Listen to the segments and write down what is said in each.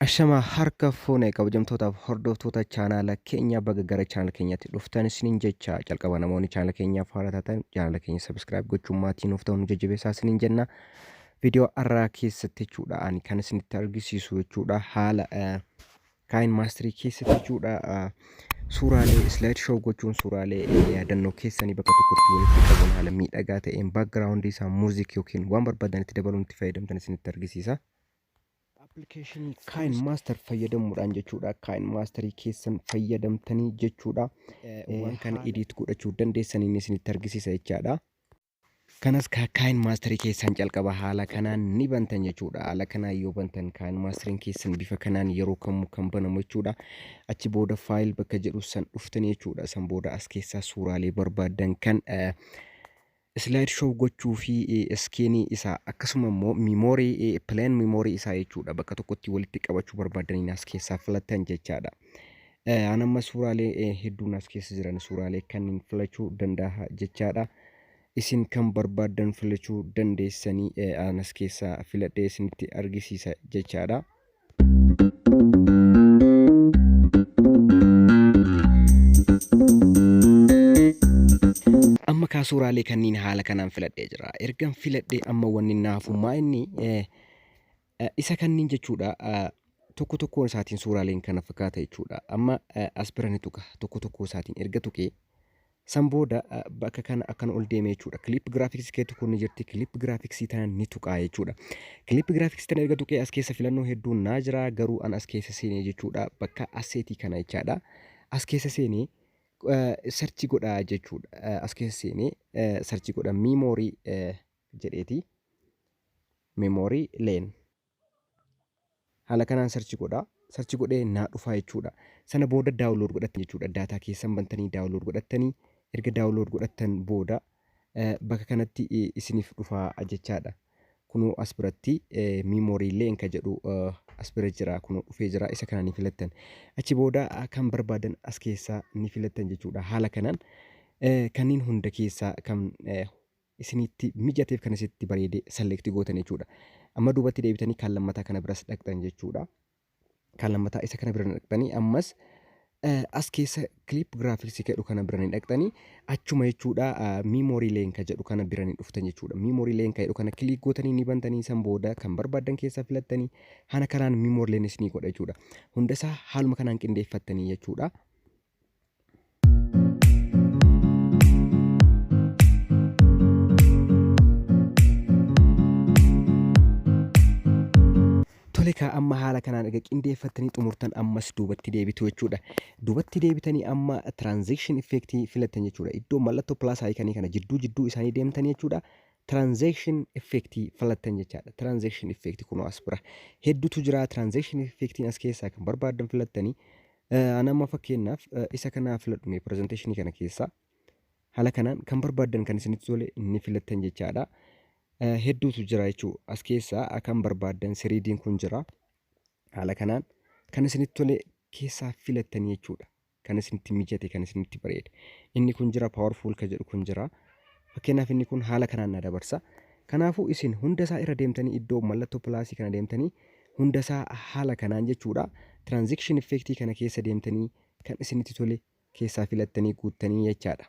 Ashama harka fuune kabajamtootaaf hordoftoota chaanaala keenya baga gara chaanaala keenyatti dhuftan isiniin jecha calqaba namoonni chaanaala keenyaaf haara taatan chaanaala keenya sabiskiraayib gochuun maatii nuuf ta'uun jajjabeessaa isiniin jenna. Viidiyoo har'aa keessatti jechuudha ani kan isinitti argisiisu jechuudha haala kaayin maastirii keessatti jechuudha suuraalee islaayid shoo gochuun suuraalee yaadannoo keessanii bakka tokkotti walitti qabuun haala miidhagaa ta'een baakgiraawundii isaa muuziik yookiin waan barbaadanitti dabaluun itti fayyadamtan isinitti argisiisa. Appilikeeshinii Kaayin Maaster fayyadamuudhaan jechuudha. Kaayin Maasterii keessan fayyadamtanii jechuudha. Waan kana edit godhachuu dandeessaniin isinitti argisiisa jechaadha. Kanas Kaayin Maasterii keessan jalqaba haala kanaan ni bantan jechuudha. Haala kanaan yoo bantan Kaayin Maasteriin keessan bifa kanaan yeroo kamuu kan banamu jechuudha. Achi booda faayil bakka jedhu san dhuftanii jechuudha. San booda as keessaa suuraalee barbaaddan kan slideshow gochuu fi skin isaa akkasuma immoo memory plain memory isaa jechuudha bakka tokkotti walitti qabachuu barbaadaniin as keessaa filattan jechaadha. Eh, An amma suuraalee eh, hedduun as keessa jiran suuraalee kanneen filachuu danda'a jechaadha. Isin kan barbaaddan filachuu dandeessanii eh, an as keessaa filadhee isinitti argisiisa jechaadha. Amma kaa suuraalee kanniin haala kanaan filadhee jira. Ergan filadhee amma wanni na hafu maa inni eh, eh, isa kanniin jechuudha eh, tokko tokkoon isaatiin suuraaleen kana fakkaata jechuudha. Amma eh, as bira ni tuqa tokko tokkoo isaatiin erga tuqee San booda bakka kana akkana ol deeme jechuudha. Clip graphics keetti kun ni jirti. Clip graphics tana ni tuqaa jechuudha. Clip graphics tana erga tuqee as keessa filannoo hedduun naa jira garuu an as keessa seenee jechuudha. Bakka asseetii kana jechaadha. As keessa seenee sarchi godhaa jechuudha. As keessa seenee sarchi godha miimoorii jedheeti. Miimoorii leen. Haala kanaan search godhaa. Search godhee naa dhufaa jechuudha. Sana booda download godhattan jechuudha. Daataa keessan bantanii download godhattanii erga download godhattan booda eh, bakka kanatti eh, isiniif dhufaa jechaadha. Kunoo as biratti eh, memory illee inka jedhu eh, as bira jira. Kunoo dhufee jira. Isa kana ni filattan. Achi booda ah, kan barbaadan as keessaa ni filattan jechuudha. Haala kanaan eh, kanneen hunda keessaa kan eh, isinitti mijateef kan isinitti bareede select gootan jechuudha. Amma duubatti deebitanii kan lammataa kana biras dhaqxan jechuudha. Kan lammataa isa kana bira dhaqxanii ammas as keessa clip graphics jedhu kana bira ni dhaqxanii achuma jechuudha memory link jedhu kana bira ni dhuftan jechuudha. Memory link jedhu kana click gootanii ni bantanii san booda kan barbaadan keessa filattanii hana kanaan memory link isinii godha jechuudha. Hundasaa haaluma kanaan qindeeffattanii jechuudha. Tole kaa amma haala kanaan erga qindeeffattanii xumurtan ammas duubatti deebitu jechuudha. Duubatti deebitanii amma transaction effect filattan jechuudha. Iddoo mallattoo plus icon kana jidduu jidduu isaanii deemtan jechuudha. Transaction effect filattan jechaadha. Transaction effect kunoo as bira hedduutu jira. Transaction effectiin as keessaa kan barbaaddan filattanii An amma fakkeenyaaf isa kana filadhu mee presentation kana keessaa haala kanaan kan barbaaddan kan isinitti tole ni filattan jechaadha. Hedduutu jira jechuu as keessaa kan barbaaddan siriidiin kun jira. Haala kanaan kan isinitti tole keessaa filattan jechuudha. Kan isinitti mijate kan isinitti bareede. Inni kun jira powerful kan jedhu kun jira. Fakkeenyaaf inni kun haala kanaan na dabarsa. Kanaafuu isin hunda isaa irra deemtanii iddoo mallattoo pilaasii kana deemtanii hunda isaa haala kanaan jechuudha transaction effect kana keessa deemtanii kan isinitti tole keessaa filattanii guuttanii jechaadha.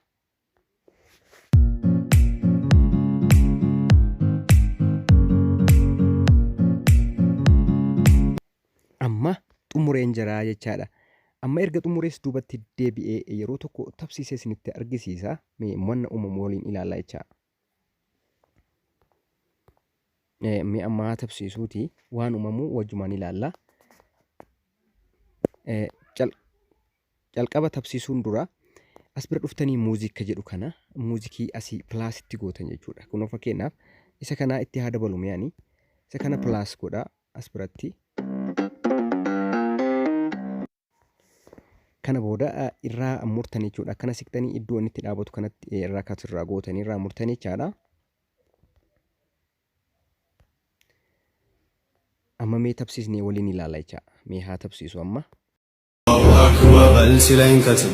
Amma xumureen jiraa jechaadha. Amma erga xumurees duubatti deebi'ee yeroo tokko tabsiisee isinitti argisiisa. Mee mo'anna uumamu waliin ilaalla jechaa. Mi'a ammaa tabsiisuuti waan uumamuu wajjumaan ilaalla. Calqaba tabsiisuun dura as bira dhuftanii muuziika jedhu kana muuzikii asii pilaas itti gootan jechuudha. Kunoo fakkeenyaaf isa kanaa itti haa dabalu mi'ani. Isa kana pilaas godha as biratti. Kana booda irraa murtan jechuudha. Akkana siqtanii iddoo inni itti dhaabatu kanatti irraa katu irraa gootanii irraa murtan jechaadha. Amma mee tabsiisnee waliin ilaala jecha. Mee haa tabsiisu amma. Bal sila hin katu.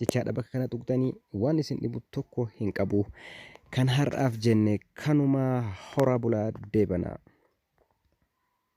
jechaadha bakka kana tuqxanii waan isin dhibu tokko hin qabu kan har'aaf jenne kanuma horaa bulaa deebanaa.